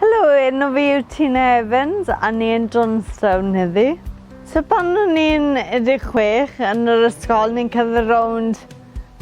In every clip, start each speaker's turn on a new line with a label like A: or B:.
A: Helo, enw fi yw Tina Evans a ni yn Johnstown heddi. So pan o'n i'n 16 yn yr ysgol ni'n cyrraedd rownd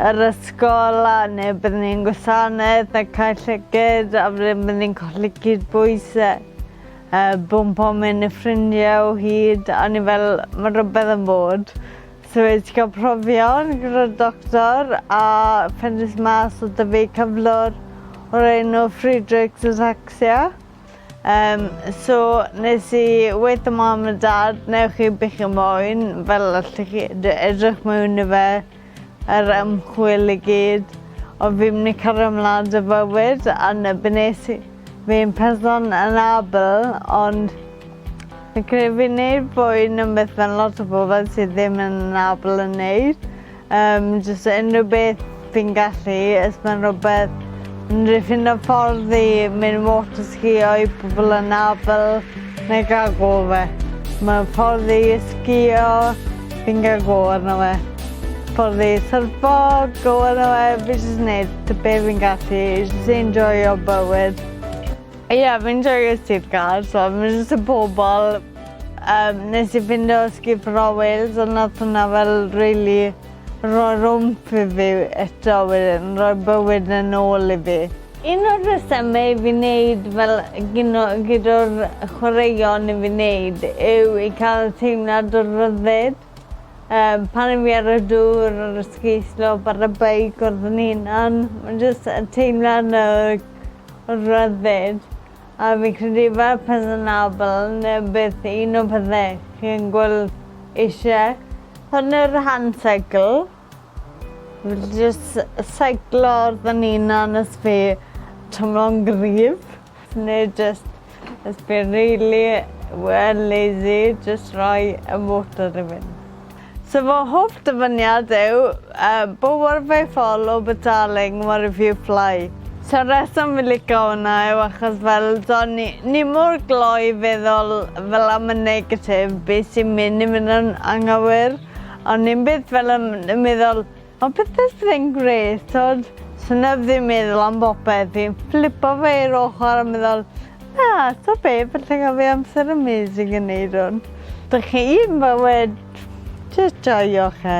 A: yr ysgol a neu byddwn ni'n gwasanaeth a cael llyged a wedyn byddwn ni'n colli cyd bwys a uh, bwmpo mewn i ffrindiau o hyd a ni fel mae rhywbeth yn bod. So fi 'di cael profion gyda doctor a phendes mas o da fi cyflwr o'r enw Friedreich's ataxia. Um, so nes i weith y mam a dad, newch chi bych y moyn, fel allwch chi edrych mewn i fe, yr er ymchwil i gyd. Ond fi'n mynd i cario mlaen dy fywyd a nes i Fi'n person anabl ond fi'n credu fi'n neud fwy na beth ma' lot o bobol sydd ddim yn anabl yn neud. Yym jyst unrhyw beth fi'n gallu os ma'n rwbeth n- dwi ffindo ffordd i mynd water skiio i pobol anabl Mae'n cael go fe. Mae'n ffordd i sgio. Fi'n cael go arno fe. Ffordd i syrfo, go arno fe. Fi jyst wneud ty be fi'n gallu. Jyst enjoyo bywyd. Ie, yeah, fi'n joio sir gael. So, mae'n jyst y pobol. Um, nes i fynd o sgip Rowells, ond nath hwnna fel really roi rwmp i fi eto wedyn, roi bywyd yn ôl i fi. Un o'r rhesymau i fi wneud fel gino gydo'r chwaraeon i fi wneud yw i cael teimlad o ryddid. Yym pan yw fi ar y dŵr ar y ski slope ar y beic wrth fy hunan ma'n jyst y teimlad 'na o o ryddid a fi'n credu fel person abal ne' beth un o'r pethe chi yn gwel' eisie. Prynu'r hand cycle. Fi jyst seiclo fy 'unan ers fi t'mlo'n gryf ne' jyst ers fi rili wel lazy jyst roi y motor i fynd. So fy hoff dyfyniad yw yy bo wor fy Fall o but darling what if you fly. So rheswm fi lico wnna yw achos fel t'o' ni ni mor gloi feddwl fel am y negatif be' sy'n myn' i fyn' yn anghywir. Ond ni'n byth fel yn, yn meddwl, o beth beth fe'n gret, tod, sy'n neb ddim meddwl am bopeth, fi'n flipo fe i'r ochr a meddwl, na, to be, fel lle gael fi amser amazing yn neud hwn. Da chi un bywyd, just joio chi.